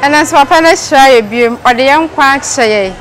Ɛnanso Papa no ahyira yɛ biom, ɔde yɛn nkwa akyɛ yɛn.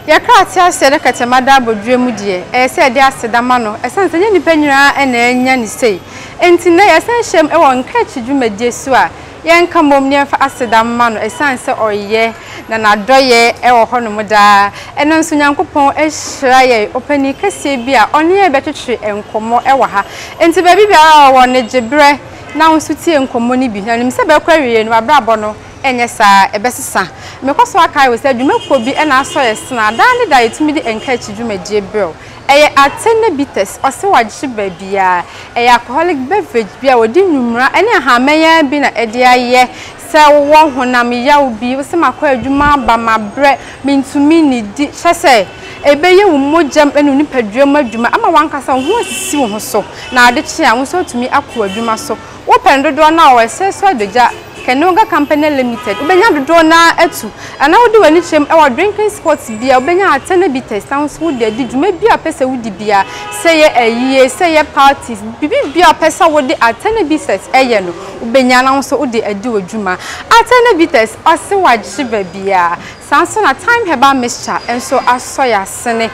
Yɛ krataa a ɛsɛɛ dɛ kɛtɛma da abodwoɛ mu deɛ, ɛyɛ sɛ yɛde aseda ma no, ɛsiane sɛ ɛnyɛ nnipa nyinaa na anya ne sei. Enti nnɛ yɛsan hyiam wɔ nkaakyi dwumadie so a Yɛnka mmom na yɛmfa aseda mma no ɛsiane sɛ ɔyɛ na n'adɔeɛ wɔ hɔnom daa. Ɛnnɛ nso Nyankopɔn ahyira yɛn ɔpanin kɛseɛ bi a ɔne yɛn rebɛtwetwe nkɔmmɔ wɔ ha. Enti baabi biara a ɔwɔ no, gye berɛ na wo nso tie nkɔmmɔ no bi. Na nim sɛ bɛkɔ awieeɛ no, w'abrabɔ no nyɛ saa a, ɛbɛsesa. Mekɔ so akae wo sɛ dwumakuo bi na asɔ yɛn sene a daa ne daa yɛtumi de nkaakyi dwumadie brɛ wo. Ɛyɛ ate ne bitters, ɔse wagye baabiaa. Ɛyɛ alcoholic beverage bi a wɔde nnwumra ne ahamanyan bi na ɛde ayɛ. Sɛ wowɔ honam yaw bi, wose makɔ adwuma aba, mabrɛ, mentumi nnidi, kyerɛ sɛ ɛbɛyɛ wo mogyam ne wo nipaduam adwuma ama w'ankasa wo ho asisi wo ho so na ade kye a, wo nso woatumi akɔ w'adwuma so. Wopɛn dodoɔ no a ɔwɔ ɛserɛ so adagya Kaneoga Company Limited wobɛnya dodoɔ no ara atu Anaa wode w'ani kyerɛm wɔ drinking spot bi a wobɛnya Atɛnɛ Bitters na wo nso wode adi dwuma biara a wopɛ sɛ wodi biara Sɛ ɛyɛ ayie, sɛ ɛyɛ parties, biribi biara a wopɛ sɛ wode Atɛnɛ Bitters yɛ no wobɛnya na wo nso wode adi wo dwuma Atɛnɛ Bitters ɔse wagye baabiara Saa nso na Thyme Herbal Mixture nso asɔ yɛasene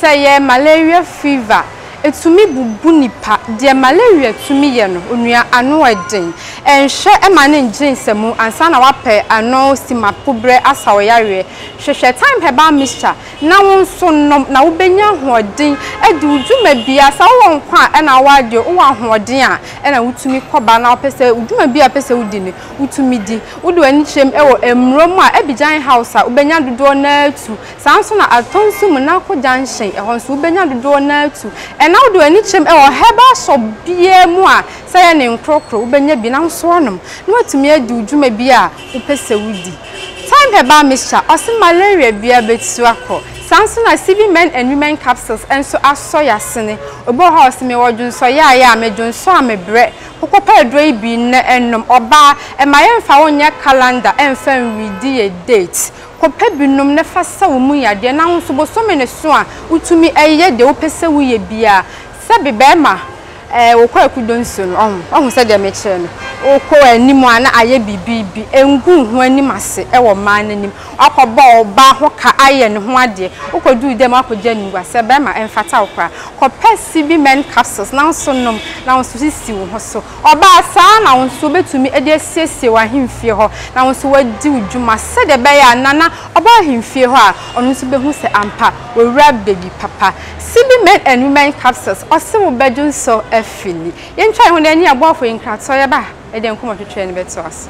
Sɛ ɛyɛ malaria fever, Ɛtumi bubu nnipa. Deɛ malaria tumi yɛ no, onua, ano yɛ den. Nhwɛ ma no ngyere nsamu ansa na woapɛ ano simapoberɛ asa wo yareɛ. Hwehwɛ time herbal mixture na wo nso nom na wobɛnya ahoɔden adi wo dwuma biara. Sɛ wowɔ nkwa a ɛna wowɔ adeɛ, wowɔ ahoɔden a ɛna wotumi kɔ ba na wopɛ sɛ wo dwuma biara a wopɛ sɛ wodi no, wotumi di. Wode w'ani kyerɛm wɔ mmuro mu a, Abidjan House a wobɛnya dodoɔ no ara tu. Saa ara nso na Atɔn nso mu na kɔ junction, ɛhɔ nso wobɛnya dodoɔ no ara tu. Ɛna wode w'ani kyerɛm wɔ herbal shop biara mu a, sɛ ɛyɛ ne nkorɔkorɔ wobɛnya bi na wo nso woanom na woatumi adi wo dwuma bi a wopɛ sɛ wodi. Thyme herbal mixture ɔse malaria biara bɛtu akɔ. Saa ara nso na CV men and women capsules nso asɔ y'asene. Obi wɔ hɔ a ɔse mewɔ dwonsɔyaayɛ a, medwonsɔ a mebrɛ. Kokɔpɛ aduro yi bi nnɛ nnom. Ɔbaa, ɛma yɛmfa wo nyɛ calendar ɛmfa nwii di yɛ date. Kɔpɛ binom na fa sa wo mu yadeɛ, na nso bosome no so a wotumi yɛ deɛ wopɛ sɛ woyɛ biara. Sɛ bi bɛɛma eh wokɔ akudo nsuo no ɔho, wahu sɛ deɛ mekyerɛ no, wokɔ anim a na ayɛ biribi bi, ngu wo ho anim ase wɔ mmaa no anim, wakɔ bɔ ɔbaa ho ka ayɛ ne ho adeɛ, wokɔ duru dɛm a wakɔ gya nugua, sɛ bɛɛma ɛmfata wo koraa. Kɔpɛ CB-men capsules na nso nom, na nso sisi wo ho so. Ɔbaa saa na wo nso wobɛtumi de asiesie w'ahemfie hɔ na wo nso woadi wo dwuma sɛdeɛ ɛbɛyɛ a nana a ɔba w'ahemfie hɔ a, ɔno nso bɛhu sɛ ampa owura bɛdi papa. CB Men and Women Capsules, ɔse wo bɛ dwonsɔ afili. Yɛntwa yɛn ho na yɛnni aboafo yi nkratɔ, yɛba a yɛde yɛn nkɔmmɔtwetweɛ no bɛtoa so.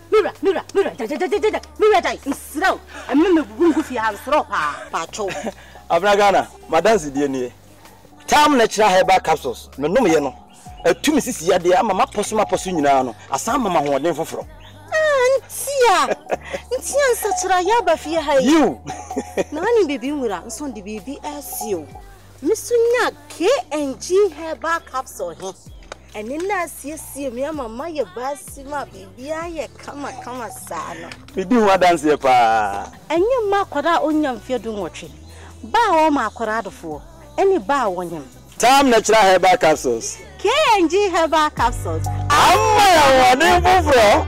Me wura, me wura, me wura, gyagyagyagyagya, me wura gyae, mesrɛ wo, ɛmɛ me gugu ngu fie ha, mesrɛ wo paa, paatwoo. Abena Ghana, m'adansedie nie. Tam Natural Herbal Capsules, menomyɛ no, atu me sisi yadeɛ ama mapɔ so mapɔ so nyinaa no, asan ama me ahoɔden foforɔ. Ah, ntia, ntia nsakyeraeɛ aba fie ha yi. Yiw! Na wonim biribi nwura, nso de biribi asie o. Me nso nyaa KNG Herbal Capsule he. Ɛne na asiesie me ama mayɛ baasi ma biribiara yɛ kamakama saa no. Medi ho adanseɛ paa. Ɛnyɛ mma akwadaa a ɔnnya mfeɛ dunwɔtwe, ba a wɔma akwadaa adofoɔ, ne ba a wɔnyem. Tam Natural Herbal Capsules. KNG Herbal Capsules. Ama ahoɔden foforɔ.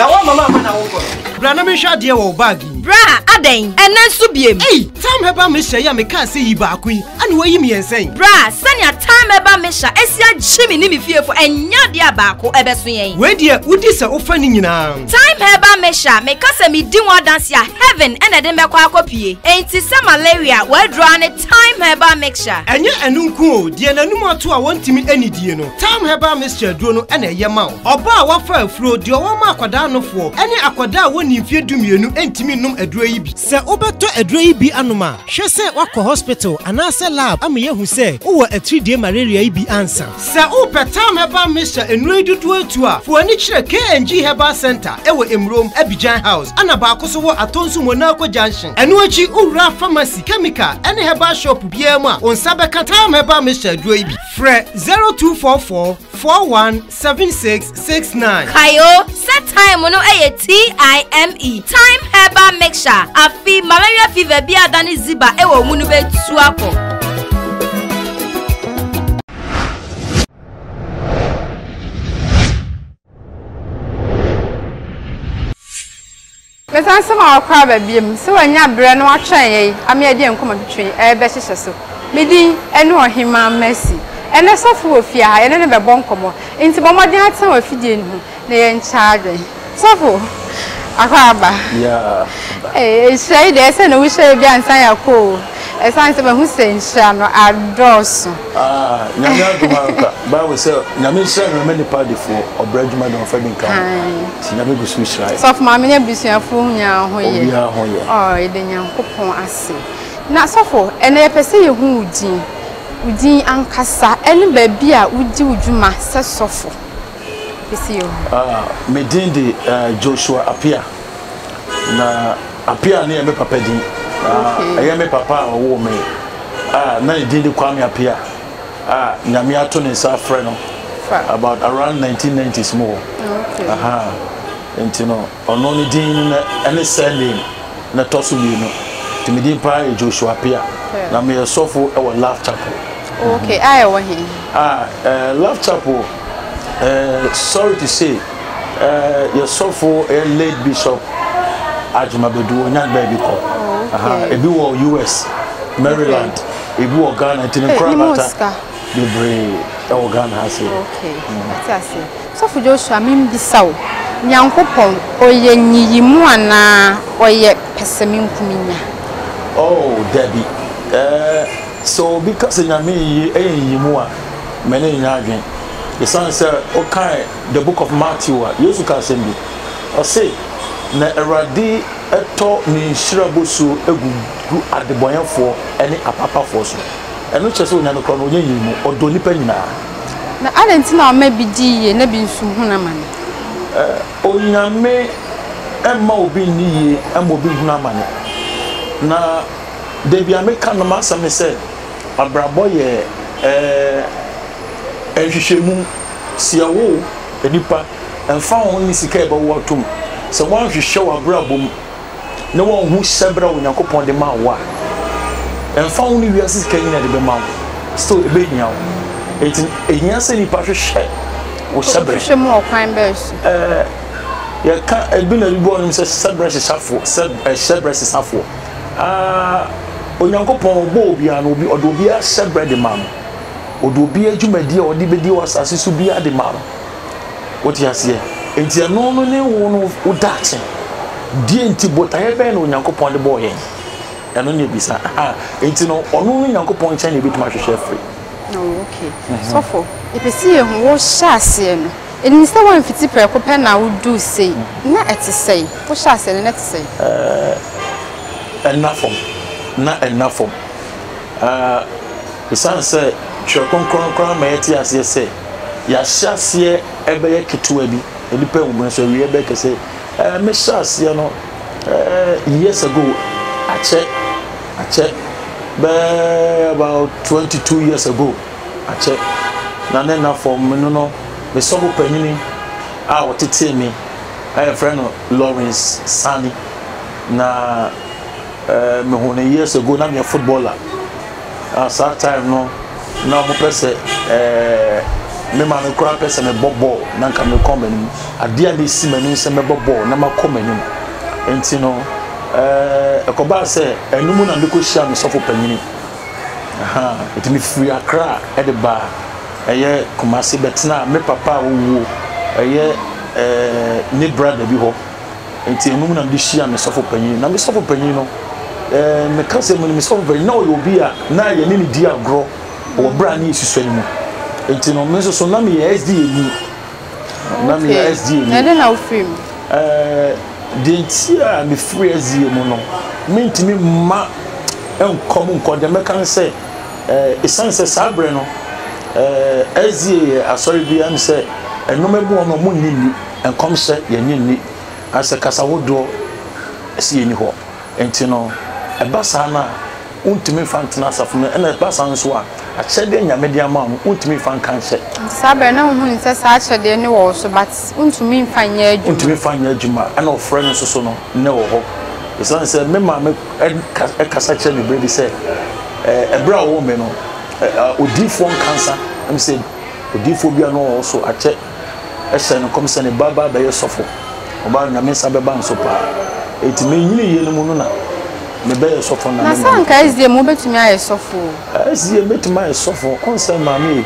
na wɔn mama ama na wokɔ no. bra na mehwɛ adeɛ wɔ baagi yi. bra adɛn ɛnɛ nso biem. ei tam ɛba mehyɛ yi a mekaa sɛ yi baako yi ɛna wɔyi mmiɛnsa yi. bra sɛnea tam ɛba mehyɛ ɛsi agye me ne me fiefo ɛnyɛ adeɛ a baako ɛbɛso yɛn. wei deɛ wodi sɛ wofa ne nyinaa. time ɛba mehyɛ meka sɛ medi ho adanse a heaven ɛna ɛde mɛkɔ akɔ pie enti sɛ malaria wɔadura ne Thyme herbal mixture. Ɛnyɛ ɛno nko o, deɛ n'anum ato a wɔntumi anidie no, Thyme herbal mixture aduro no na ɛyɛ ma wo. Ɔbaa a wafa afuro, deɛ ɔwɔ ma akwadaa anofoɔ, ne akwadaa a wɔnni mfeɛ dumienu ntumi nnom aduro yi bi. Sɛ wobɛtɔ aduro yi bi anom a, hwɛ sɛ woakɔ hospital anaasɛ lab ama yɛahu sɛ wowɔ atiridie malaria yi bi ansa. Sɛ wopɛ Tam Herbal Mixture nnuro yi dodoɔ atu a, fa w'ani kyerɛ KNG Herbal Centre wɔ Emurom, Abidjan House, ɛna baako nso wɔ Atonsu Monaco Junction. Ɛno akyi, wowura pharmacy, chemical, ne herbal shop biara mu a, wo nsa bɛka Tam Herbal Mixture aduro yi bi. Frɛ 0244 41 76 six nine. kae o sɛ time no yɛ t-i-m-e time herbal mixture afi malaria fever bi a dane ziba wɔ mu no bɛtu akɔ Mɛsan sɛ mawakɔ aba biom, sɛ wanya berɛ na watwɛn yɛn ama yɛadi yɛn nkɔmmɔ twetwe yi rebɛhyehyɛ so. Me din ne Ɔhemmaa Mercy. Ɛnnɛ sɔfo wɔ fie ha, yɛne no bɛbɔ nkɔmmɔ, enti bɔ mmɔden atena w'afidie no ho na yɛnkyɛ adwene. Sɔfo, akɔ aba? Ee, nhyira yi deɛ ɛyɛ sɛ na wohyɛ yɛ bi ansa yɛakɔ o. Ɛsan sɛ mahu sɛ nhyira no adɔɔso. Aah Nyame adom ara kwa. Bible sɛ Nyame nhyira no mma nipa adefoɔ, ɔbrɛ adwuma de ɔmfa bi nka ho. Nti Nyame gu so hyira yɛn. Sɔfo maame ne abusuafoɔ nyinaa ho yɛ? Obiara ho yɛ. Ɔɔ yɛda Nyankopɔn ase. Na sɔfo ɛnɛ yɛpɛ sɛ yɛhu wo din, wo din ankasa ɛne baabi a wodi wo dwuma sɛ sɔfo. Me din de uh, Joshua Apia. Na Apia ne yɛ me papa din. Ɛyɛ me papa a ɔwoo me. Ah, na ne din de Kwame Apia. Ah, nyame ato ne nsa afrɛ no. About around 1990s mu hɔ. Aha. Nti no, Ɔno ne din no na ɛne surname na ɛtɔ so mmienu. Nti me din paa yɛ Joshua Appiah. Hwɛ. Na meyɛ sɔfo wɔ Love Chapel. Ok, a ɛwɔ he? Ah, eh, Love Chapel, eh, sorry to say, eh, yɛ sɔfo yɛ late Bishop Ajuma Badu, ɔnyan baabi kɔ. Oh, Aha, okay. ebi wɔ US, Maryland, ebi wɔ Ghana, nti me Hey, kora ne mu bata. sika. bebree wɔ Ghana ha sei. Okay, mate aseɛ. Sɔfo Joshua, membisa wo, Nyankopɔn, ɔyɛ nyiyimu anaa ɔyɛ pɛsɛmenkominya? Oh, dabi. Eh, sɛ obi ka sɛ Nyame yiye yɛ nyiyimu a, m'ani renyɛ adwene. Esiane sɛ wokae The Book of Matthew a, Yesu ka asɛm bi. Ɔse, Na Awurade tɔ ne nhyira bosuo gugu adebɔneyɛfoɔ ne apaapafoɔ so. Ɛno kyerɛ sɛ onya no korɔ no, onya nyini mu. Ɔdɔ nnipa nyinaa. Na adɛn nti na ɔma ebi di yie na ebi nso hunu amane? Onyame mma obi nni yie mma obi nhunu amane. Na da biara meka no m'asɛm ne sɛ, abrabɔ yɛ nhwehwɛmu. Sɛ yɛwo nnipa, ɛmfa ho ne sika a yɛbɛwo atom, sɛ woanhwehwɛ w'abrabɔ mu, na wɔanhu hyɛbrɛ a Onyankopɔn de maa wo a, ɛmfa ho ne wiase sika nyina de bɛma wo, still ebehia wo. Enti no, ehia sɛ nipa hwehwɛ wo hyɛbrɛ. Hwehwɛ mu ɔkwan bɛn so? Ɛɛ, yɛka ebi na ebi bɔ wɔn sɛ hyɛbrɛ hyehyɛfoɔ, sɛ hyɛbrɛ sesafoɔ. Aa, Onyankopɔn ɔbɔ obiara no, obi ɔde obiara hyɛbrɛ de ma no. Ɔde obiara dwumadie a ɔde bɛdi wɔ asase so biara de ma no. Wote aseɛ? Enti ɛno no ne wo no wo daakye. Deɛ nti botaeɛ bɛn na Onyankopɔn de bɔɔ yɛn? Ɛno ne ebisa. Enti no ɔno no Nyankopɔn nkyɛn na ebɛtumi ahwehwɛ afiri. Oh, okay. Mhm. Sɔfo, yɛpɛ sɛ yɛhu wo hyɛ aseɛ no. Ɛnim sɛ woamfiti prɛko pɛ na woduu sei. Mhm. Na ɛte sɛn? Wo hyɛ aseɛ no, na ɛte sɛn? Eh, ɛnna fam. Na ɛnna fam. Ah, ɛsiane sɛ Twerɛ Kronkron koraa ma yɛte aseɛ sɛ, Yɛahyɛ aseɛ ɛbɛyɛ ketewa bi, nnipa ɛwɔ mu nanso awieɛ ɛbɛyɛ kɛse. Ɛɛ mehyɛ aseɛ no ɛɛ years ago akyɛ akyɛ bɛɛ about twenty two years ago akyɛ na ne na fam me no no me sɔfo panyini a ɔtetee me a yɛfrɛ no Lawrence Sani na ɛɛ mehu no years ago na meyɛ footballer. Na saa time no na ɔmo pɛ sɛ ɛɛ me maame koraa pɛ sɛ mebɔ bɔɔl na nka mekɔ m'anim. Adeɛ a na esi m'ani sɛ mɛbɔ bɔɔl na makɔ m'anim. Nti no ɛɛ ɛkɔbaa sɛ ɛno mu na mekɔ hyiaa me sɔfo panyini. Ahaa nti me firi Accra ɛde baa ɛyɛ Kumasi bɛtenaa me papa a owuo ɛyɛ ɛɛ ne brother bi hɔ. nti ɛno mu na mede hyia me sɔfo panyin na me sɔfo panyin no ɛɛ meka sɛ me sɔfo panyin na ɔyɛ obi a na yɛne ne di agorɔ wɔ berɛ a ne yɛsusua no mu nti no me nso so na meyɛ SDA ni na meyɛ SDA ni ɛde na wofiri mu ɛɛ deɛ nti a mefiri SDA mu no mentumi mma nkɔ mu nkɔ deɛ mɛka ne sɛ ɛɛ ɛsiane sɛ saa berɛ no ɛɛ SDA yɛ asɔre bi a ɛm sɛ ɛnom ɛboɔ no ɔmo nni nni nkɔmhyɛ yɛnye nni, anasɛ kasa hodoɔ si yɛnni hɔ. Nti no, ɛba saa no a, wontumi mfa ntena asafo mu, ɛna ɛba saa nso a, akyɛdeɛ a Nyame de ama wo no, wontumi mfa nka nhyɛ. Nti saa berɛ no, wohunu sɛ saa akyɛdeɛ no wɔ wo so, but wontumi mfa nyɛ adwuma. Wontumi mfa nyɛ adwuma, ɛna ɔfrɛ no nso so no, nnɛ wɔ hɔ. Esiane sɛ me maame ka, kasa kyerɛ me berɛ bi sɛ, ɛɛ, ɛberɛ a ɔwoo me no, ɛɛ, odiyifoɔ nkansa, ɛm sɛ odiyifoɔ bi a na ɔwɔ so akyɛ, hyɛɛ no nkɔm sɛ ne ba ba bɛyɛ sɔfo. Ɔbaa no, Nyame nsa bɛba no so paa. Enti menyinii yɛ no mu no na mebɛyɛ sɔfo na me maame. Na sɛ anka SDA mu wobɛtumi ayɛ sɔfo o. SDA mu mɛtumi ayɛ sɔfo. Wohu sɛ maame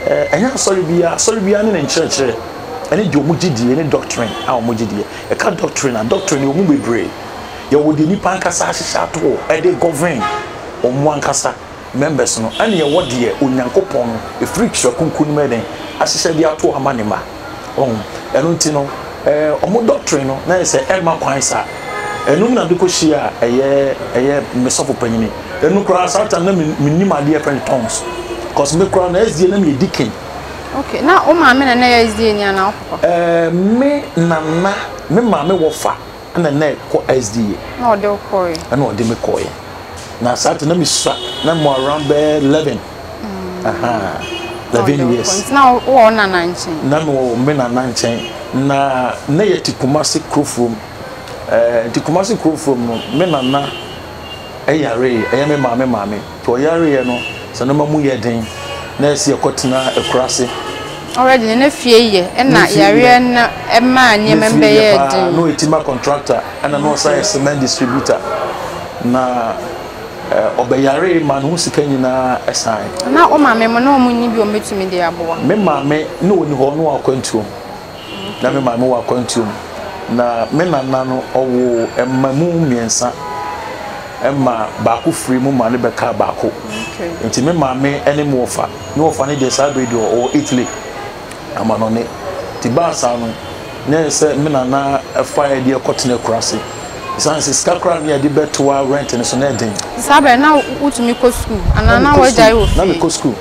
e, ɛnyɛ asɔre biara, asɔre biara ne ne nkyerɛkyerɛ, ɛne deɛ wɔn gyedie, ne doctrine a wɔn gyedie. Yɛka doctrine a, doctrine yɛwɔ mu bebree. Yɛwɔ deɛ nnipa ankasa ahyehyɛ ato hɔ de govern wɔn ankasa. members no, ɛneɛ wɔ deɛ Onyankopɔn ɛfiri twerɛ kronkron no mu yɛ dɛn ahyehyɛ de ato ama ne ma ɔho ɛno nti no ɛɛ ɔmo doctrine no na yɛ sɛ ɛmma kwan sa ɛnum na de kɔ hyia a ɛyɛ ɛyɛ mesɔfo panyini ɛnu koraa saa tam na menim adeɛ pɛn tongues cause me koraa na ɛsdeɛ na meyɛ dikin okay na wo maame na na yɛ ɛsdeɛ ni anaa wo papa ɛɛ me nana me maame wɔ fa ɛna na ɛkɔ sda. na ɔde wo kɔɔɛ. ɛna ɔde me kɔɔɛ na saa te na mesua na mo around bɛɛ eleven mm. aha eleven years na wɔ nana nkyɛn na mewɔ me nana nkyɛn na na yɛ te kumase kurofuom ɛɛ eh, nti kumase kurofuom no me nana yaree, ɛyɛ me maame maame, nti ɔyareeɛ no sɛ nnoɔma mu yɛ den na ɛsɛ yɛkɔtena akuraase. Already no na fie yɛ ɛna yareɛ no maa nneɛma mu bɛyɛɛ den. Na fie yɛ paa, na ɔyɛ timber contractor ɛna na ɔsan yɛ cement distributor, na ɔbɛyaree maa ne ho sika nyinaa ɛsaeɛ. Na wo maame mo na wɔn nni bi a wɔbɛtumi de aboa? Me maame na ɔni hɔ, na ɔwɔ akwantuo. na me maame wɔ akwantuo mu. Na me nana no ɔwoo mma mu mmiɛnsa ma baako firi mu ma ne bɛkaa baako nti me maame ne me wɔfa ne wɔfa no deɛ saa berɛ deɛ ɔwɔ Italy amanɔne nti baa saa no na ɛyɛ sɛ me nana fa yɛ deɛ kɔtena akura ase ɛsiane sɛ sika koraa ne yɛde bɛtoa rent no so na ɛden saa berɛ na wotumi kɔ sukuu anaa na wagyae wɔ fie na mekɔ sukuu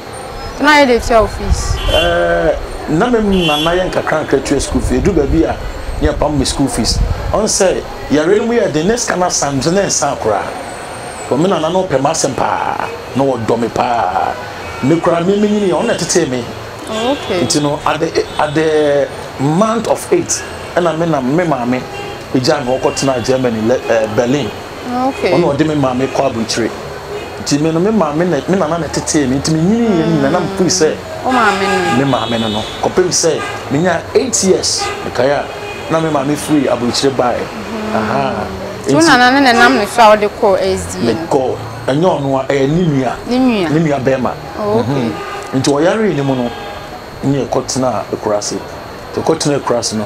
Na yɛ de tua wo fees. Ɛɛ na me mu na na yɛ nkakrankra tua school fees edu baabi a ne yɛ pam me school fees ɔn sɛ yare no mu yɛ den ne sika no asan nso na ɛnsan koraa wɔ me nana no ɔpɛ m'asɛm paa na wɔ dɔ me paa me koraa me me nyini yɛ ɔn na ɛtetee me nti no at the at the month of eight ɛna me na me maame egya me ɔkɔ tena Germany ɛɛ Berlin. Okay. Ɔno ɔde me maame kɔ aburukyire. Nti me no me maame na me nana na ɛtetee me nti me nyini yɛ nyina na mefiri sɛ me maame no no kɔpem sɛ me nya eight years mekae a na me maame firi aburukyire baeɛ. Mm-hmm. Aha. Nti wo nana no na ɛnam ne so a ɔde kɔ SDA no. Me kɔ ɛnyɛ ɔno a ɛyɛ ne nua. Ne nua. Ne nua bɛrima. Oh, okay. Mm-hmm. Nti ɔyaree ne mu no ne ɛkɔ tena ekura ase. Ɛkɔ tena ekura ase no.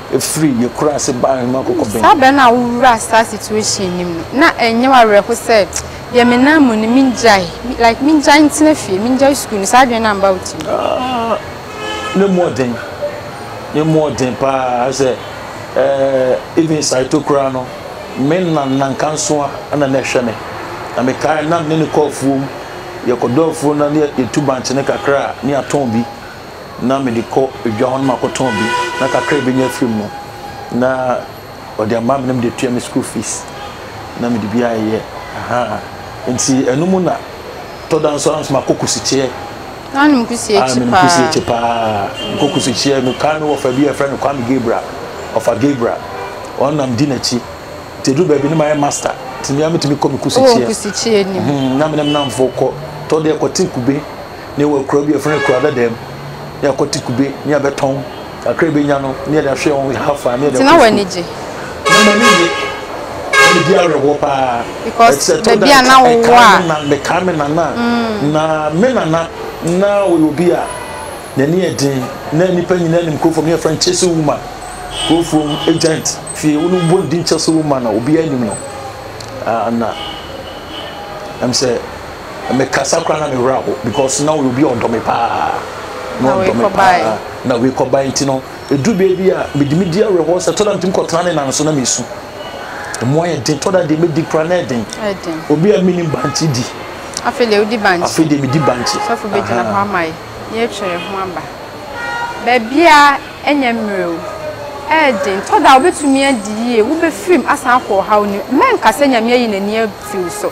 Efiri yɛ kura ase ba ahema kɔkɔ bɛn. Saa bere no a wo wura saa situation no mu na ɛnyɛ wo awerɛho sɛ deɛ me nan mu no mingyae like mingyae ntena fie mingyae sukuu no saa adwene no amba wo tirim. Aah ne mu ɔden ne mu ɔden paa sɛ eh even saito koraa no me na nanka nso a ɛna na ɛhwɛ me na me kae na me ne no kɔ afuom yɛkɔ dɔ afuo no na yɛtu bankye no kakra a na yɛatɔn bi. na mede kɔ dwa hɔ na makɔtɔn bi na kakra a ɛbɛnya afiri mu no na ɔde ama me na mede tua me school fees na mede bi ayɛ aha nti ɛno mu na tɔda nso ara nso makɔ kusikyeɛ na ɔnom kusie kyi paa kusie kyi paa mekɔ kusikyeɛ mekaa me wɔfa bi a ɛfrɛ no Kwame Gabriel ɔfa Gabriel ɔnam di n'akyi nti ɛduru baabi ne mayɛ master nti mea metumi kɔ me kusikyeɛ na menam namfo kɔ tɔdeɛ kɔte kube Ne yɛwɔ akuraa bi a yɛfrɛ no akuraa dadaam ne yɛakɔte kube ne yɛabɛtɔn kakra yɛbɛnya no ne yɛde ahwɛ wɔn hafa ne yɛde nti na w'ani gye na m'ani gye na medi awerɛhoɔ paa because baabi a na wowɔ a mekaa me nana mm. na me nana na ɔyɛ obi a n'ani yɛ den na nnipa nyinaa nim kurofam ne yɛfrɛ no chase woman kurofam agent fie wo no bɔ ne din chase woman a obiara nim no ah, na ɛm sɛ mekasa koraa na me werɛ aho because na ɔyɛ obi a ɔdɔ me paa na ɔdɔ me paa na wei kɔbae nti no ɛduru bɛɛ bi a mede me di awerɛhoɔ sɛ tɔda metumi kɔtena ne nan so na mesu ɛmu ayɛ den tɔda deɛ mɛdi koraa na ɛden obi a menim bankye di afei deɛ wodi bankye afei deɛ medi bankye sɔfo bɛgyina hɔ ama yi yɛtwerɛ ho aba baabia ɛnyɛ mmerɛ o ɛden tɔda wobɛtumi adi yie wobɛfirim asan akɔ ɔhaw no mɛnka sɛ nyame ayi n'ani afiri so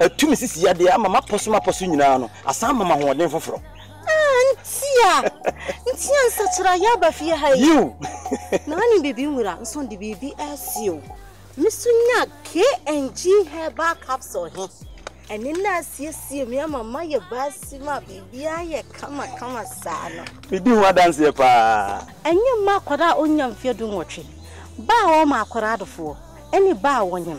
Atumi sisi yadeɛ ama mapɔ so mapɔ so nyinaa no asan ama mahoɔden foforɔ. Ah ntia ntia nsakyera yɛ aba fie ha yi. Yiw. Na ɔne bibi nwura nso de biribi asi o. Me so nya KNG herbal capsule he. Ɛne na asiesie me ama mayɛ baasi ma biribiara yɛ kama kama saa no. Medi ho adanseɛ paa. Ɛnyɛ mma akwadaa a ɔnnya mfeɛ du nwɔtwe, ba a ɔrema akwadaa adofoɔ, ne ba a ɔnyem.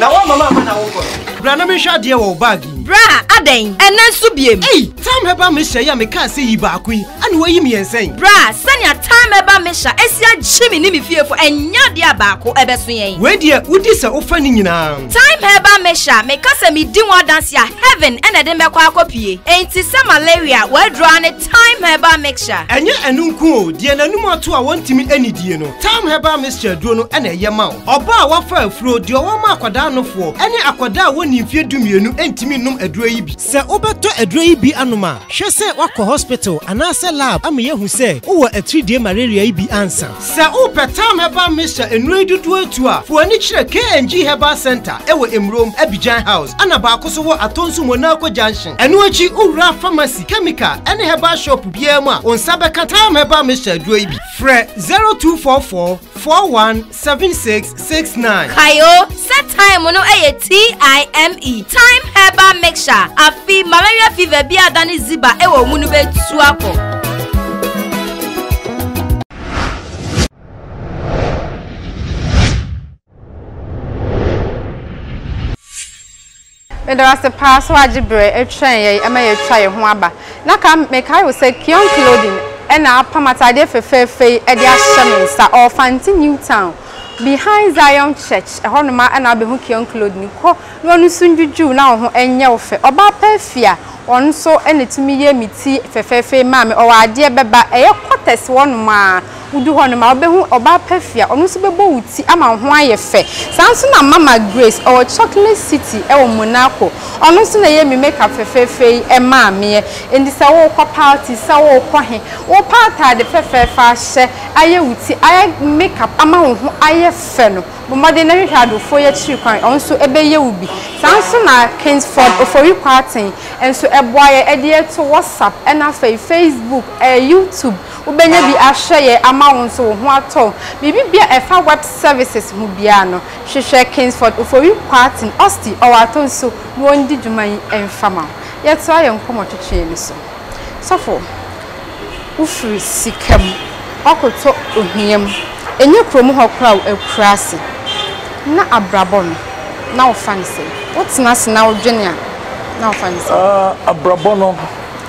na wɔn mama ama na wokɔ no. bra na mehwɛ adeɛ wɔ baagi. bra adɛn ɛnɛ nso biem. ei tam hɛba mehyɛ yi a mekaa sɛ yi baako yi ɛna wɔyi mmiɛnsa yi. bra sɛnea tam hɛba mehyɛ asi agye me ne me fiefo ɛnyɛ adeɛ a baako ɛbɛso yɛn. wei deɛ wodi sɛ wofa ne nyinaa. Time Herbal Mixture me ka sɛ me di ho adanse a heaven na ɛde mɛkɔ akɔ pie enti sɛ malaria w'aduro a ne Time Herbal Mixture. Ɛnyɛ ɛno nko o, deɛ n'anum ato a wɔntumi nnidie no, Time Herbal Mixture aduro no na ɛyɛ ma wo. Ɔbaa a wafa afuro, deɛ ɔwɔ ma akwadaa nofoɔ, ɛne akwadaa a wɔnnii mfeɛ dumienu ntumi nnom aduro yi bi. Sɛ wobɛtɔ aduro yi bi anom a, hwɛ sɛ woakɔ hospital anaasɛ lab ama yɛahu sɛ wowɔ atiridie malaria yi bi ansa. Sɛ wopɛ Tam Herbal Mixture nnuro yi dodoɔ atu a, fa w'ani kyerɛ KNG Herbal Centre wɔ Emurom, Abidjan House, ɛna baako nso wɔ Atonsu Monaco Junction. Ɛno akyi, wowura pharmacy, chemical ne herbal shop biara mu a, wo nsa bɛka Tam Herbal Mixture aduro yi bi. Frɛ 0244 41 76 six nine. kae o sɛ time no yɛ t-i-m-e time herbal mixture afi malaria fever bi a dane ziba wɔ mu no bɛtu akɔ Meda wo ase paa sɛ woagye berɛ twɛn yɛn ɛma yɛatwa yɛn ho aba. Na ka mekae wo sɛ Kion Clothing na apam ataadeɛ fɛfɛɛfɛ yi de ahyɛ me nsa ɔwɔ Fante New Town behind Zion Church ɛhɔ nom ara na wobɛhu Kion Clothing. Kɔ na ɔno nso ndwudwuu na wo ho nyɛ wo fɛ. Ɔbaa pa afie a ɔno nso na ɛtumi yɛ me ti fɛfɛɛfɛ yi maa me. Ɔwɔ adeɛ bɛba ɛyɛ cutters hɔ nom ara. Wudu hɔ no, ma wobehu ɔbaa Perfia. Ɔno nso bɛbɔ wo ti ama wo ho ayɛ fɛ. Saa ara nso na Mama Grace, ɔwɔ Chocolate City wɔ Monaco. Ɔno nso na ɛyɛɛ me makeup fɛfɛɛfɛ yi maa meɛ. Enti sɛ worekɔ party, sɛ worekɔ he, wopa ataade fɛfɛɛfɛ ahyɛ, ayɛ wo ti, ayɛ makeup ama wo ho ayɛ fɛ no, bɔ mmɔden na hwehwɛ adwofoɔ yi akyiri kwan, ɔno nso bɛyɛ wo bi. Saa ara nso na Kingsford Ofori Kwarteng nso boa yɛn de yɛn to WhatsApp, ɛna afei Facebook, ɛɛ YouTube. Wobɛnya bi ahwɛ yɛ ama wo nso wo ho atɔ wo. Biribi biara a ɛfa web services ho biara no, hwehwɛ Kingsford Ofori Kwarteng, Osti, Ɔwato nso na wɔndi dwuma yi mfa ma wo. Yɛtoa yɛn nkɔmmɔtwetwe no so. Sɔfo, wofiri sika mu, woakɔtɔ ohia mu, ɛnyɛ kurom hɔ koraa o, akuraase, na abrabɔ no, na wofa no sɛn? Wotena ase na wodwene a, na wofa no sɛn? Abrabɔ no.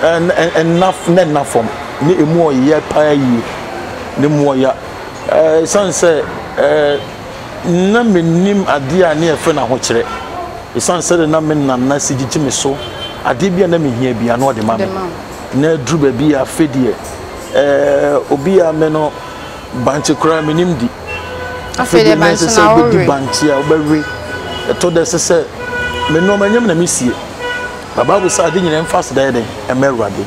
ɛnna na ɛnna fam na emu ɔyɛ paa yie na emu ɔya ɛɛ san sɛ ɛɛ na menim adeɛ a ne yɛfrɛ no ahokyerɛ ɛsiane sɛ de na me nana si gyegye me so adeɛ bi a na mehia bia na ɔde ma me na aduru baabi a afei deɛ ɛɛ obi a me no bankye koraa menim di afei deɛ na ɛsɛ sɛ wobɛdi bankye a wobɛwe ɛtɔ da ɛsɛ sɛ me nneɛma nyɛ me na mesie Na Bible se ade nyinaa mfa aseda yɛ dɛn? Ɛma Awurade.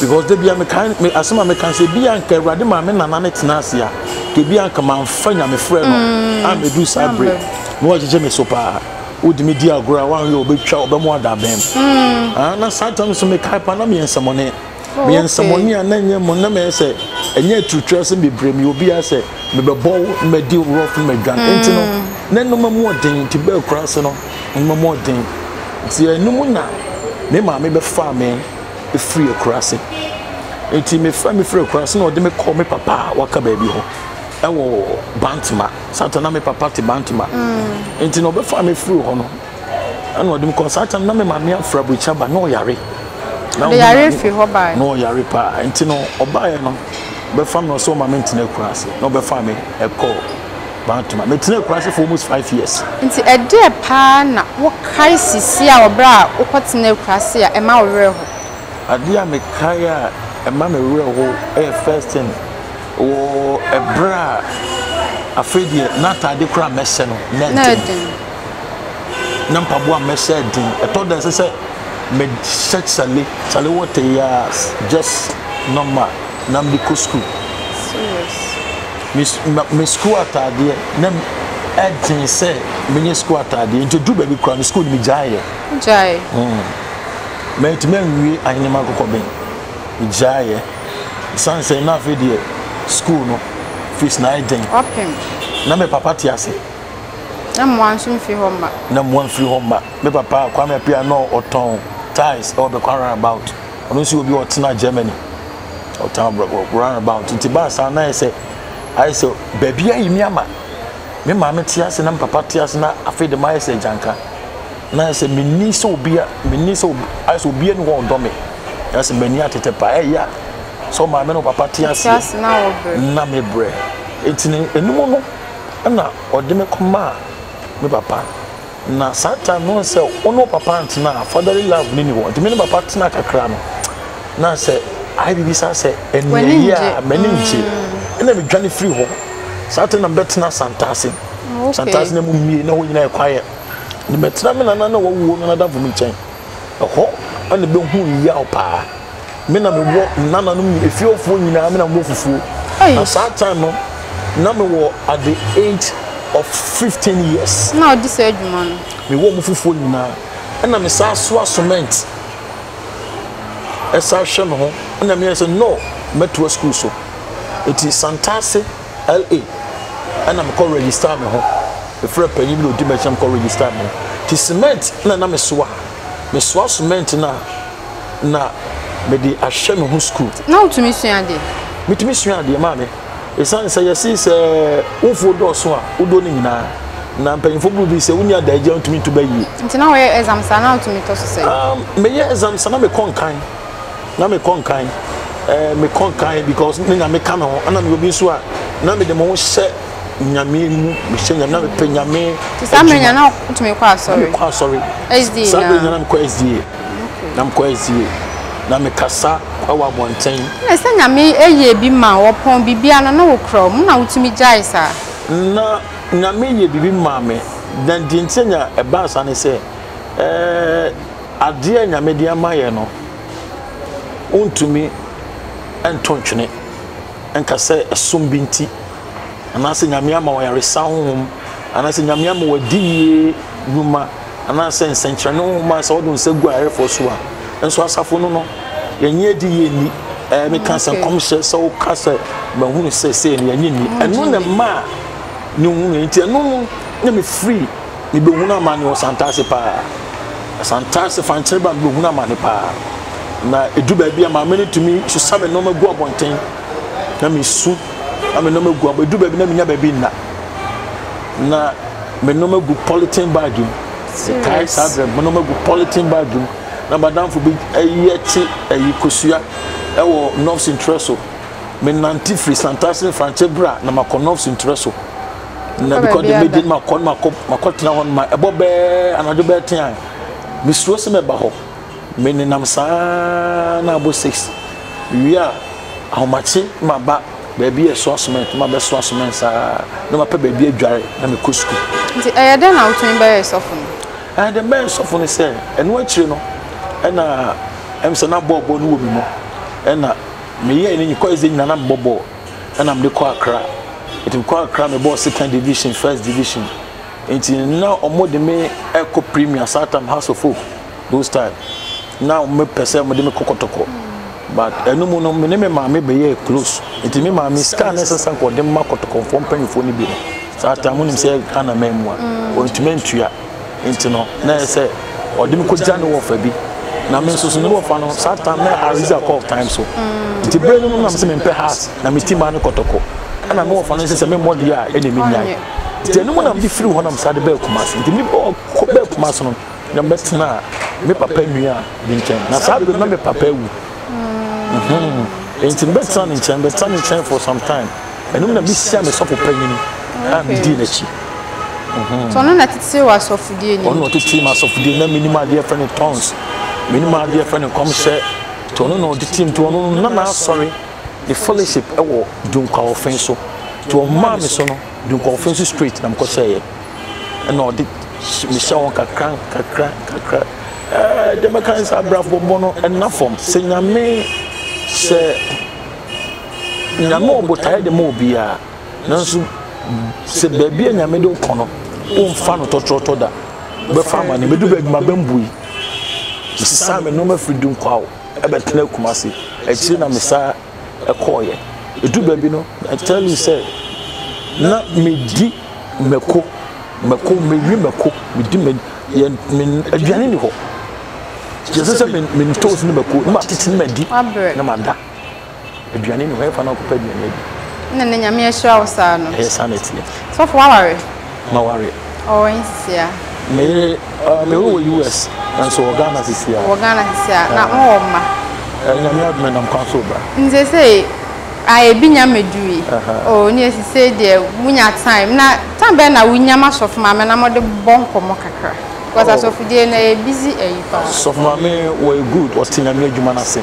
Because da bia mekae me asem a meka se bia nka Awurade maa me nana no tena ase a, nka bia nka mamfa Nyame frɛ no mm. a medu saa bere. Na wagyegye me so paa. Wodi me di agorɔ a wanhwɛ ɔbɛtwa ɔbɛmo ada abɛn. Mm. Ah, na saa tam so mekae paa na meyɛ nsɛmɔne. Oh, meyɛ okay. nsɛmɔne a na ɛnyɛ mmɔ na mɛyɛ sɛ ɛnyɛ aturutura sɛ bebree meyɛ obi a sɛ mebɛbɔ wo na madi rough na madwan mm. nti no na nnoma mu ɔden nti bɛɛ kura ase no nnoma mu ɔden nti ɛno mu na me maame bɛfaa me ɛfiri akura ase nti mefa mefiri akura ase na ɔde me kɔɔ me papa a waka baabi hɔ ɛwɔ bantama sata na me papa te bantama mm. nti na ɔbɛfaa me firi hɔ no Ɛna ɔde me kɔ saa tam na me maame afra burukyi aba na ɔyare. Ɔde yare fi hɔ baa. Na ɔyare paa nti no ɔbaeɛ no bɛfa mi ɔsɛ ɔma mi ntena akura ase na ɔbɛfa mi ɛkɔ baatuma mi tena akura ase for almost five years. Nti ɛdeɛ paa na wokae sisi a ɔbrɛ a wokɔ tena akura ase a ɛma wo werɛ ho. Adeɛ a mekae a ɛma me werɛ ho ɛyɛ first thing. Wɔ ɛberɛ a afei deɛ n'ataade koraa mɛsɛ no na ɛden, na mpaboa mɛsɛ ɛden. Ɛtɔ da ɛsɛ sɛ mehyɛ sale sale wɔtɛ yi a just normal na mede kɔ sukuu. Me sukuu ataadeɛ na ɛden sɛ menyɛ sukuu ataadeɛ nti duru baabi koraa no sukuu no megyaeɛ. Gyae. Mm. Mɛtumi anwie ahenema akokɔben. Megyaeɛ. Ɛsiane sɛ na afei deɛ sukuu no fees na ayɛ den. Ɔpem. Na me papa te ase. Na mmoa nso mfiri hɔ mma. Na mmoa mfiri hɔ mma. Me papa Kwame Appiah na ɔtɔn tiles ɛwɔ Bɛkwa roundabout. Ɔno nso yɛ obi a ɔtena Germany. Ɔtɔn roundabout. Nti baa saa na ayɛ sɛ ayɛ sɛ baabi ayi me ama. Me maame te ase na me papa te ase na afei de mayɛ sɛ agyanka. Na ayɛ sɛ menni sɛ obi a menni sɛ ayɛ sɛ obi ani hɔ ɔdɔ me. yɛsɛ m'ani atete pa ɛya sɛ maame no papa te aseɛ na mebrɛ ɛnti no ɛnum no ɛna ɔde me kɔmaa me papa na saa time no sɛ wo ne papa ntena fatherly love ne ni hɔ nti me ne papa tena kakra no na sɛ ayɛ biribi saa sɛ ɛneɛ yi a m'ani ngye mm. ɛna medwane firi hɔ saa time na mebɛtena santase santase na mu mmie na hɔ nyina ɛkwaeɛ ne mɛtena me nana na wɔwuo no nadamfo me nkyɛn Ɛhɔ na mebɛhuu yaw paa. Me na mewɔ nananom nyina, efiefoɔ nyinaa, me na mewɔ fufuo. Na saa time no, na mewɔ at the age of 15 years. Na ɔdi saa adwuma no. Mewɔ ɔmo fufuo nyinaa. Ɛna me saa soa cement. Ɛsa hwɛ me ho. Ɛna meyɛ sɛ no, mɛtoa school so. Eti Santase. LA ɛna me kɔ register me ho me frɛ panyin bi na odi m'akyi na me kɔ register me ho ti cement na na me soa me soa cement na na me de ahwɛ me ho school. na wotumi sua adeɛ. metumi sua adeɛ maame esan sɛ yɛsi sɛ wofuo dɔɔso a wodɔ ne nyinaa na mpanyinfo buru bi sɛ wonni adaagya ntumi ntu bɛ yie. nti na wɔyɛ exam saa na wotumi tɔ so sɛ. Um, meyɛ exam saa na mekɔ nkan. na me kɔ nkan ɛɛ me kɔ nkan because ne nyame ka me ho ɛna me obi nso a na me de mo ho hyɛ nyame mu me hyɛ nyame na me pɛ nyame adwuma na me kɔ asɔre saa bɛ nyina me kɔ sda na me kɔ sda na me kasa ɛwɔ abɔnten. na sɛ nyame ɛyɛ bi ma wɔpɔn bibia no na wokura wɔn na wotumi gyae saa. na nyame yɛ bibi maa me na deɛ nti nya ɛbaa saa ne sɛ ɛɛ. Adeɛ a Nyame de ama yɛn no, wontumi nto ntwene nka sɛ ɛsom bi nti, anaasɛ Nyame ama wo ayaresa honhom, anaasɛ Nyame ama wo adiyie nnwuma, anaasɛ nsɛnkyerɛnne honhom a sɛ wode wo nsa gu ayarefoɔ so a, nso asafo no no, yɛnye adiyie nni. Ɛɛ, meka sɛ nkɔmhyɛ, sɛ woka sɛ mahunu sɛ sei no, yɛnye nni. Ɛno na ɛmaa ne hunui, nti ɛno no na mefiri Mebɛhunu amane wɔ Santase paa. Santase fankyere ba mebɛhunu amane paa. Na ɛdu baabi a maame no tumi susa me nneɛma gu abɔnten na mesu na me nneɛma gu abɔ ɛdu baabi na menya baabi nna na me nneɛma gu polythene bag mu metae saa berɛ me nneɛma gu polythene bag mu na madamfo bi ayi akyi ayi kosua ɛwɔ nɔfs ntrɛ so menante firi santase ne frankyɛ bra na makɔ nɔfs ntrɛ so na mekɔ de medi no makɔ no makɔtena hɔ no ma ɛbɔ bɛɛ anadwo bɛɛ ten a mesuro sɛ mɛba hɔ menenam saa na abɔ six wie a ahomakye maba baabi yɛ soa cement ma bɛ soa cement saa na mapɛ baabi adware na mekɔ sukuu. nti ɛyɛ dɛn na wotumi bɛyɛ sɔfo no. ɛyɛ dɛn bɛyɛ sɔfo no sɛ ɛno akyire no ɛna ɛm sɛ na bɔɔl bɔɔl no wɔ me mu ɛna meyɛ ne nyikɔ ɛdze nyina na mebɔ bɔɔl. ɛna mede kɔ akra nti mekɔ akra mebɔɔ second division first division nti na ɔmo de me ɛkɔ premier satam house of hope those time na ɔmo pɛ sɛ ɔmo de me kɔ kɔtɔkɔ but ɛno mu no me ne me maame bɛyɛ close nti me maame sika na ɛsɛ sɛ ɔde ma kɔtɔkɔfoɔ mpanyinfoɔ no bi no saa time mo nim sɛ ghana mɛn mu a ɔntumi ntua. Enti no, na ɛyɛ sɛ ɔde me kogya ne wɔfa bi, na me nso so ne wɔfa no, saa time na Ariza kɔɔ time so. Enti bere no mu na mese mempɛ has, na me ti maa no kɔtɔkɔ. Ɛna me wɔfa no nso sɛ memmɔ deɛ a, ɛnna mennyae. Enti ɛno mu na mede firii hɔ na mesan de baa Kumasi. Enti mebɔɔ kɔ baa Kumasi no, na mebɛtenaa me papa nua bi nkyɛn. Na saa bere no, na me papa awu. Enti mebɛtenaa ne nkyɛn, mebɛtenaa ne nkyɛn for some time. Ɛno mu na misiaa me sɔfo panyin a midii n'akyi. Nti ɔno na ɛtetee w'asɔfodie nim? Ɔno na ɔtetee m'asɔfodie nim. Na menim adeɛ yɛfrɛ no tongues, menim adeɛ yɛfrɛ no nkɔmhyɛ. Nti ɔno na ɔtetee mu. Nti ɔno no na n'asɔre ne fellowship wɔ Dunkwawɔfe so. Nti ɔmaa me so no, Dunkwawɔfe so straight na mekɔhyɛeɛ. Ɛna ɔde mehyɛ wɔn kakra kakra kakra. Ɛɛ deɛ mɛka ne sɛ abrabɔ no nna fam. Sɛ Nyame sɛ. Nyame wɔ botaeɛ de ma obiara, nanso sɛ baabi a Nyame de wokɔ no, womfa no tɔtrɔtɔ da. Wobɛfa amane, medu baabi ma bɛmbui. Mesesaa me nneɛma firi Dunkwao ɛbɛtena Kumasi. Akyire na mesaa ɛkɔɔyɛ. Ɛdu baabi no, I tell you sɛ, na medi mako, mako, mewi mako, medi me, yɛn, me, aduane ni hɔ. Yɛsɛ sɛ me, me ntoos ne mako, na matete ne madi, na mada. Aduane ni hɔ, ɛfa na ɔkɔpɛ aduane adi. Ɛna na Nyame ahyira wo saa no. Ɛyɛ saa na ɛteɛ. Sɔfo waware? Maware. Ɔwɔ nsia. Me yere, uh, me yere wɔ US, nanso wɔ Ghana sisi a. Wɔ Ghana sisi a, na mo wɔ mma. Nyame adome nam kwan so ba. Nse se, a ebi nya medui. Oh, ne esi se deɛ munya time. Na time bɛn na wunya ma sɔfo maame na mo de bɔ nkɔmɔ kakra? Cos asɔfodie no ɛyɛ busy ayi paa. Sɔfo maame wɔyɛ good ɔte nyame adwuma no ase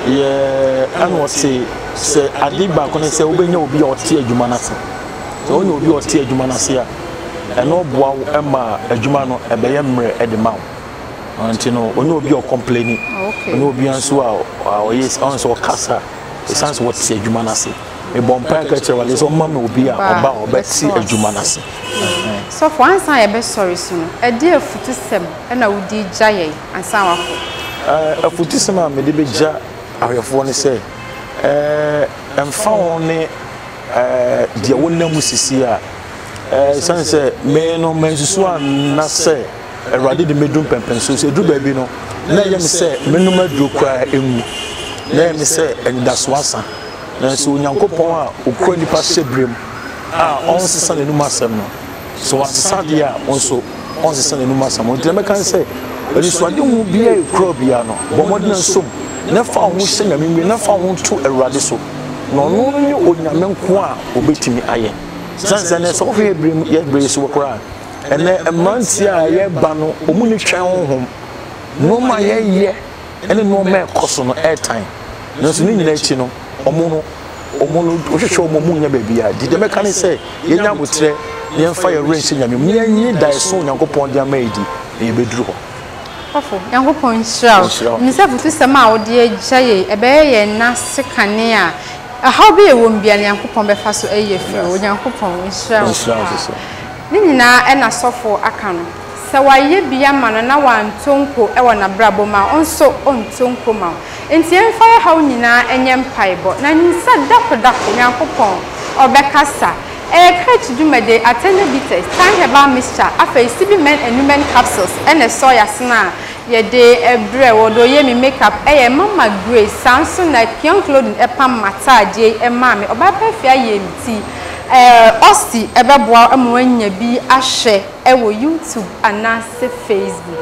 yeah ɛna ɔse sɛ ade baako ne sɛ wobɛnya obi a ɔte adwuma no ase sɛ wonya obi a ɔte adwuma no ase a ɛno ɔboa wo ma adwuma no ɛbɛyɛ mmerɛ de ma wo nti no ɔnyɛ obi a ɔkɔmpleni ɔnyɛ obi nso a ɔyɛ ɔn sɛ ɔkasa ɛsiane sɛ wɔte adwuma no ase mebɔ mpae ka kyerɛ wade sɛ ɔma me obi a ɔba a ɔbɛte adwuma no ase. Sɔfo, ansa na yɛbɛsɔre so no, ɛdeɛn afutusɛm na wode regya yɛn ansa na woakɔ? Afutusɛm a mede bɛgya ahwɛfoɔ ne sɛ, ɛmfa ho ne deɛ wonam mu sisi a, ɛsiane sɛ me no mansusu anna sɛ Awurade de mɛdu mpɛmpɛnsoɔ so. Ɛduru baabi no, na ɛyɛ me sɛ menom aduro koraa ɛnwu. Na ɛyɛ me sɛ anidasoɔ asa. Nanso Onyankopɔn a okura nnipa hyɛberem a ɔnsesa n'anom asɛm no, sɛ wasesa ade a, wo nso ɔnsesa n'anom asɛm. Enti na mɛka sɛ, Anisoadehu biara a ekura wo biara no, bɔ mmɔden na som, na fa wo ho hyɛ Nyame mu yiye, na fa wo ho to Awurade so, na ɔno ne Onyame nko a obetumi ayɛ. Esiane sɛ nnɛ, sɛ wohwɛ yɛn bere mu, yɛn bere yi so koraa a, ɛnnɛ mmerante a yɛreba no, wɔn ani twɛn honhom, nneɛma a yɛyɛ, ne nnoɔma a ɛkɔ so no ɛretan nanso ne nyinaa akyi no ɔmo no ɔmo no wohwehwɛ ɔmo ɔmo nnya baabi a di deɛ mɛka ne sɛ yɛnya aboterɛ na yɛmfa yɛn werɛ nhyɛ Nyame mu na yɛnye daeɛso Onyankopɔn de ama yi di na yɛbɛduru hɔ. Ɔfofo, Nyankopɔn nhyira wo. Ɔnhyira wo. Nim sɛ afutusɛm a wode agya yei, ɛbɛyɛ yɛn nan ase kane a ɔhaw bi a ɛwɔ mu biara no Nyankopɔn bɛfa so ayi afiri hɔ. Onyankopɔn nhyira wo paa. Ne nyinaa ɛna sɔfo aka no. Sɛ w'ayɛ bi ama no na w'anto nko wɔ n'abrabɔ mu a, wo nso ɔnto nko ma wo. Nti yɛn fa yɛ haw nyinaa nyɛ mpaebɔ. Na nim sɛ dako dako Nyankopɔn ɔbɛ kasa. Ɛyɛ church dwumadi, Athena bitters, Thyme herbal mixture, afei Sibi men and women capsules ɛne soya sena a yɛde brɛ wo. Ɔde ɔyɛ me make up ɛyɛ mama Grace saa nso na Kion clothing ɛpam m'ataadeɛ yi ɛmaa me. Ɔbaa pɛfee ayɛ me ti. Ɛɛ Austy ɛbɛboa wo ama w'anya bi ahwɛ. wɔ YouTube anaase Facebook.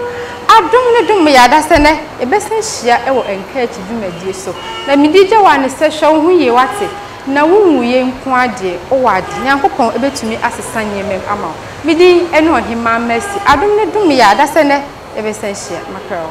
Adom no dom yɛ ada sɛ nɛ yɛbɛsan hyia wɔ nkaakyi dwumadie so. Na me di gye wo a ne sɛ hwɛ wo ho yie wate? Na wo nwu yɛ nko ara deɛ wo wɔ ade. Nyankopɔn bɛtumi asesa nneɛma mu ama wo. Me din ɛne Ɔhemaa Mercy. Adom no dom yɛ ada sɛ nɛ yɛbɛsan hyia. Mɛpɛ wo.